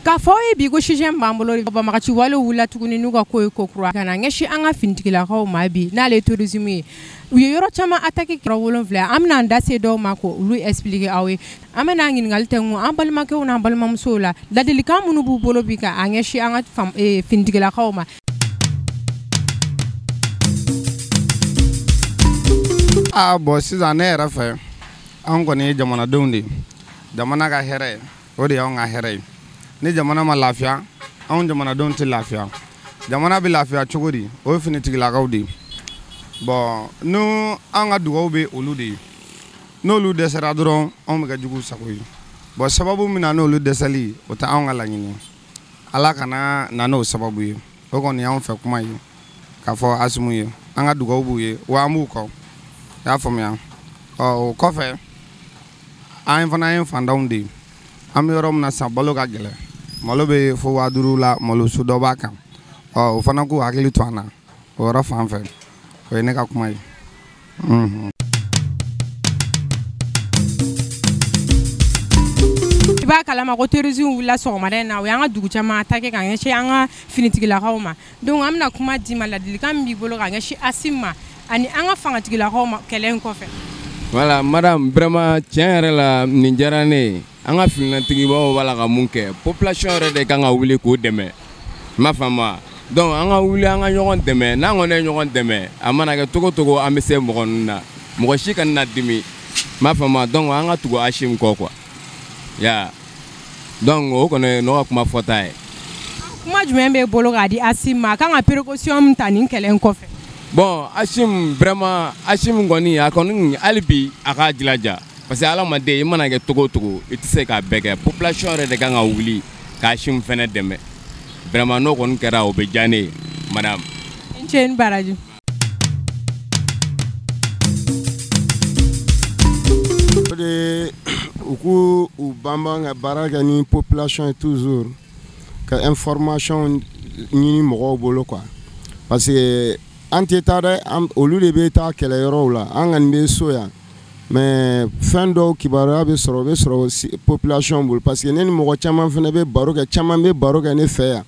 K'a fɔ ye bi ko sujet b'an bolo banbaganci wale wulila tuguni n'u ka ko ye ko kura ka ɲɛsin an ka finitigilakaw ma bi n'ale terrorisme ye u ye yɔrɔ caman attaqué kɛra wolonfila an bɛna an da se dɔw ma k'olu expliquer aw ye an bɛna ɲininkali tɛ kun an balimakɛw n'an balimamusow la ladilikan minnu b'u bolo bi k'a ɲɛsin an ka finitigilakaw ma a bon sisan ne yɛrɛ fɛ anw kɔni ye jamanadenw de ye jamana ka hɛrɛ o de y'anw ka hɛrɛ ye ni jamana ma lafiya anw jamanadenw tɛ lafiya jamana bɛ lafiya cogo di o ye finitigilakaw de ye bon n'u an ka dugawu bɛ olu de ye n'olu dɛsɛra dɔrɔn anw bɛ kɛ juguw sago ye bon sababu min na n'olu dɛsɛli o tɛ anw ka laɲini ye ala kana na n'o sababu ye o kɔni y'an fɛ kuma ye k'a fɔ asimu ye an ka dugawu b'u ye wa an b'u kɔ y'a faamuya ɔ o kɔfɛ an fana ye fantanw de ye an bɛ yɔrɔ min na san balo ka gɛlɛn malo bɛ fo waa duru la malo su dɔ b'a kan ɔ o fana k'u hakili to an na o yɔrɔ fan fɛ o ye ne ka kuma ye i b'a kalama ko terrorisme wulila sɔgɔmada in na o y'an ka dugu caman attaqué ka ɲɛsin an ka finitigilakaw ma donc an bɛna kuma d'i ma ladilikan min b'i bolo ka ɲɛsin asim ma ani an ka fangatigilakaw ma kɛlɛ in kɔfɛ voilà madame vraiment tiɲɛ yɛrɛ la nin diyara ne ye an ka finitigibaw b'a la ka mun kɛ population yɛrɛ de kan ka wuli k'u dɛmɛ m'a faamuya donc an ka wuli an ka ɲɔgɔn dɛmɛ n'an kɔni ye ɲɔgɔn dɛmɛ a mana kɛ cogo cogo an bɛ se mɔgɔ ninnu na mɔgɔ si kana na dimi m'a faamuya donc an ka tugu asim kɔ quoi ya donc o kɔni ne ka kuma fɔta ye kuma jumɛn b'e bolo k'a di asim ma a kan ka précaution min ta nin kɛlɛ in kɔfɛ bon asim vraiment asim kɔni a kɔni hali bi a k'a jilaja parce que hadamaden i mana kɛ cogo cogo i tɛ se k'a bɛɛ kɛ population yɛrɛ de kan ka wuli k'asim fɛnɛ dɛmɛ vraiment n'o kɔni kɛra o bɛ diya ne ye madame. i ni ce ni baraji. o de u k'u banban ka baara kɛ ni population ye toujours ka information ɲini mɔgɔw bolo quoi parce que an tɛ taa dɛ olu de bɛ taa kɛlɛyɔrɔw la an kɔni bɛ so yan. mais fɛn dɔw kibaruya bɛ sɔrɔ o bɛ sɔrɔ population bolo parce que ne ni mɔgɔ caman fana bɛ baro kɛ caman bɛ baro kɛ ne fɛ yan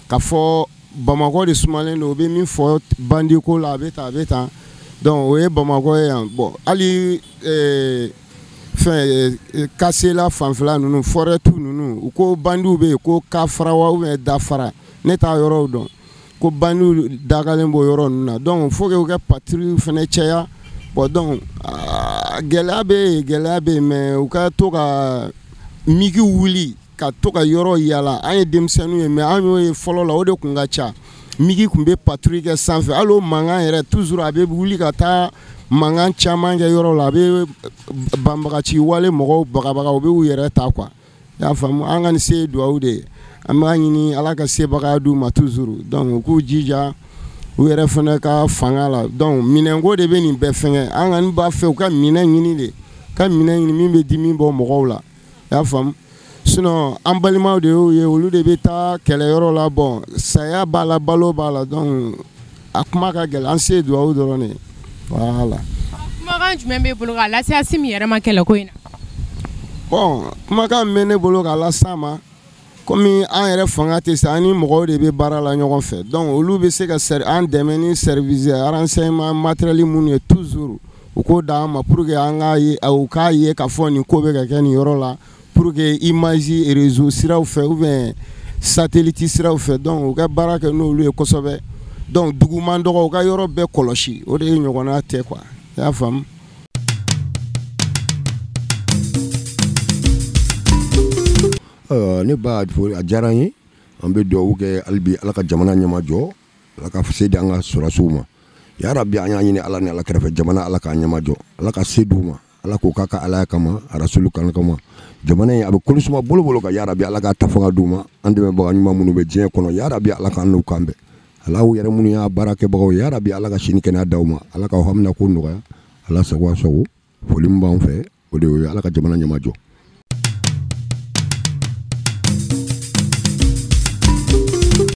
k'a fɔ bamakɔ de sumalen don u bɛ min fɔ bandiko la a bɛ tan a bɛ tan donc o ye bamakɔ ye yan bon hali fɛn kasela fanfɛla ninnu forêt tu ninnu u ko bandiw bɛ yen ko kafara wa dafara ne t'a yɔrɔw dɔn ko bandiw dagalen b'o yɔrɔ ninnu na donc faut que u ka patrouille fana caya bon donc gɛlɛya bɛ yen gɛlɛya bɛ yen mais u ka to ka migi wuli ka to ka yɔrɔ yala an ye denmisɛnninw ye mais an y'o ye fɔlɔ la o de tun ka ca migi tun bɛ patrouille kɛ sanfɛ hali o mankan yɛrɛ toujours a bɛ wuli ka taa mankan caman kɛ yɔrɔ la a bɛ banbagaci wale mɔgɔw bagabaga u b'u yɛrɛ ta qu i y'a faamu an kɔni se ye dugawu de ye an b'a ɲini Ala ka sebaga d'u ma toujours donc u k'u jija u yɛrɛ fana ka fanga la donc minɛnko de bɛ nin bɛɛ fɛngɛ an kɔni b'a fɛ u ka minɛn ɲini de ka minɛn ɲini min bɛ dimi bɔ mɔgɔw la i y'a faamu sinon an balimaw de y'u ye olu de bɛ taa kɛlɛyɔrɔ la bon saya b'a la balo b'a la donc a kuma ka gɛlɛn an se dugawu dɔrɔn de voilà kumakan jumɛn b'e bolo k'a lase Asimi yɛrɛ ma kɛlɛ ko in na bon kumakan min bɛ ne bolo k'a lase a ma komi an yɛrɛ fanga tɛ se an ni mɔgɔw de bɛ baara la ɲɔgɔn fɛ donc olu bɛ se ka an dɛmɛ ni service renseignement matériel minnu ye toujours u k'o d'an ma pour que an k'a ye u k'a ye k'a fɔ nin ko bɛ ka kɛ nin yɔrɔ la pour que image réseau siraw fɛ ou bien satellite siraw fɛ donc u ka baara kɛ n'olu ye kosɛbɛ donc duguman dɔgɔ u ka yɔrɔ bɛɛ kɔlɔsi o de ɲɔgɔnna tɛ quoi i y'a faamu nba a diyara an ye an bɛ dugawu kɛ hali bi ala ka jamana ɲɛma jɔ ala ka se di an ka sɔrɔsiw ma yarabi an y'a ɲini ala ni ala kira fɛ jamana ala k'a ɲɛma jɔ ala ka se di u ma Ala k'o k'a ka alaya kama arasulu kan kama jamana in a bɛ kolo suma bolo bolo kan yarabi ala k'a ta fanga d'u ma an dɛmɛbaga ɲuman minnu bɛ diɲɛ kɔnɔ yarabi ala k'an n'u kan bɛn ala aw yɛrɛ minnu y'a baarakɛbagaw yarabi ala ka si ni kɛnɛya d'aw ma ala k'aw hamina ko nɔgɔya ala sago aw sago foli min b'an fɛ o de ye ala ka jamana ɲɛma jɔ